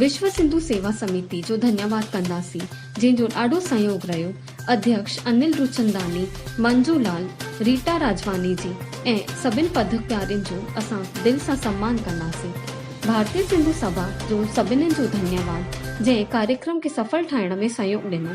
وشو سنڌو سيوا سميتي جو ڌنيواد ڪنداسين جنهن جو ڏاڍو سهيوگ رهيو اڌيڪش انل روچنداني، منجو لال، ريٽا راجواني جي ۽ سڀن پڌ پيارين جو اسان دل سان سمان ڪنداسين. ڀارتي سنڌو سڀا جو سڀنن جو ڌنيواد جنهن ڪاريڪرم کي سڦل ٺاهڻ ۾ سهيوگ ڏنو.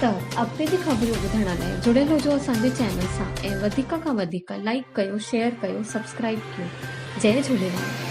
ته اڳتي به خبريون ٻڌڻ لاء جڙيل هجو اسان جي چينل سان ۽ وڌيڪ کان وڌيڪ لائيڪ ڪيو شيئر ڪيو سبسڪرائيب ڪيو جئي جهوليلال.